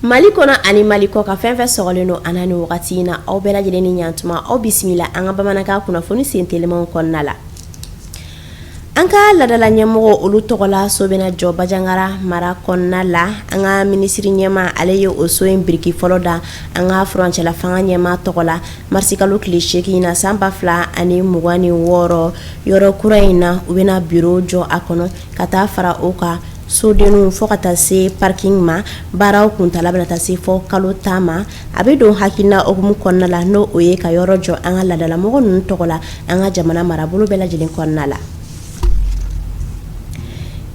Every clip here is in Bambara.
Mali kɔnɔ ani Mali kɔkan fɛn fɛn sɔgɔlen don an na ni wagati in na aw bɛɛ lajɛlen ni ɲantuma aw bisimila an ka bamanankan kunnafoni sen telimaw kɔnɔna la An ka ladala ɲɛmɔgɔw olu tɔgɔ la so bɛna jɔ Banjagara mara kɔnɔna la an ka minisiri ɲɛma ale ye o so in biriki fɔlɔ da an ka furancɛla fanga ɲɛma tɔgɔ la marisi kalo tile seegin na san ba fila ani mugan ni wɔɔrɔ yɔrɔ kura in na u bɛna biro jɔ a kɔnɔ ka taa fara o kan sodenw fo ka taa se parking ma baaraw kuntaala bɛna taa se fɔ kalo tan ma a bɛ don hakilina hukumu kɔnɔna la n'o o ye ka yɔrɔ jɔ an ka ladalamɔgɔ ninnu tɔgɔ la an ka jamana marabolo bɛɛ lajɛlen kɔnɔna la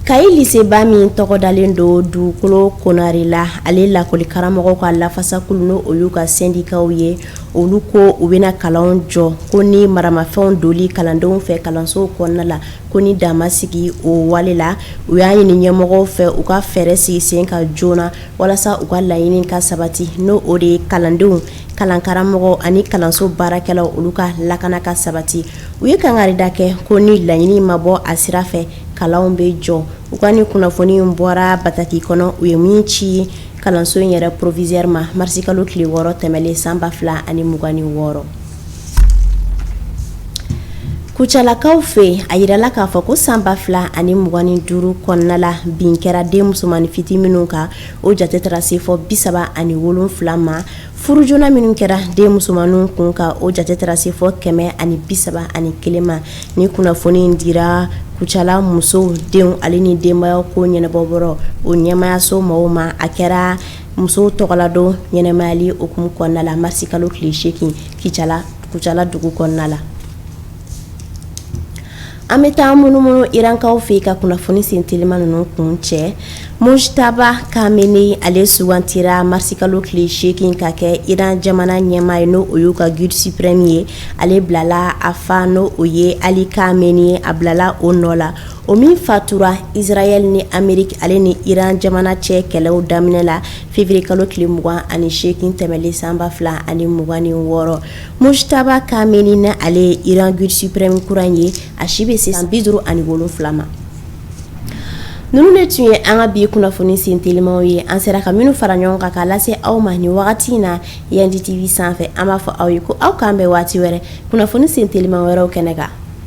Kayi liseba min tɔgɔ dalen don Dugukolo Konare la ale lakɔli karamɔgɔw ka lafasakulu n' olu ka sendikaw ye olu ko u bɛna kalan jɔ ko ni maramafɛnw doli kalandenw fɛ kalansow kɔnɔna la ko ni dan ma sigi o wale la u y'a ɲini ɲɛmɔgɔw fɛ u ka fɛɛrɛ sigi sen kan joona walasa u ka laɲini ka sabati n'o o de ye kalandenw kalankaramɔgɔw ani kalanso baarakɛlaw olu ka lakana ka sabati u ye kangari da kɛ ko ni laɲini ma bɔ a sira fɛ kalanw bɛ jɔ u ka ni kunnafoni bɔra bataki kɔnɔ u ye min ci kalanso in yɛrɛ porovizɛri ma marisikalo tile wɔɔrɔ tɛmɛnen san ba fila ani mugan ni wɔɔrɔ Kucalakaw fɛ yen a jirala k'a fɔ ko san ba fila ani mugan ni duuru kɔnɔna la bin kɛra den musomannin fitinin minnu kan o jate taara se fɔ bi saba ani wolonwula ma furu joona minnu kɛra den musomanw kun kan o jate taara se fɔ kɛmɛ ani bi saba ani kelen ma nin kunnafoni in dira Kucala musow denw ale ni denbaya ko ɲɛnabɔyɔrɔ o ɲɛmayaso mɔgɔw ma a kɛra musow tɔgɔladon ɲɛnamayali hukumu kɔnɔna la marisi kalo tile seegin Kucala dugu kɔnɔna la an bɛ taa munumunu Irankaw fɛ yen ka kunnafoni sen teliman ninnu kuncɛ Mujtaba Kameni ale sugantira marisi kalo tile seegin ka kɛ Iran jamana ɲɛmaa ye n'o o y'u ka guide suprême ye ale bilala a fa n'o o ye Ali Kameni a bilala o nɔ la o min fatura Isirayɛli ni Ameriki ale ni Iran jamana cɛ kɛlɛ daminɛ la feviriye kalo tile mugan ani seegin tɛmɛlen san ba fila ani mugan ni wɔɔrɔ Mujtaba Kameni na ale ye Iran guide suprême kura in ye a si bɛ se bi duuru ani wolonwula ma ninnu de tun ye an ka bi kunnafoni sen telimaw ye an sera ka minnu fara ɲɔgɔn kan k'a lase aw ma ni wagati in na Yandi TV sanfɛ an b'a fɔ aw ye ko aw k'an bɛn waati wɛrɛ kunnafoni sen teliman wɛrɛw kɛnɛ kan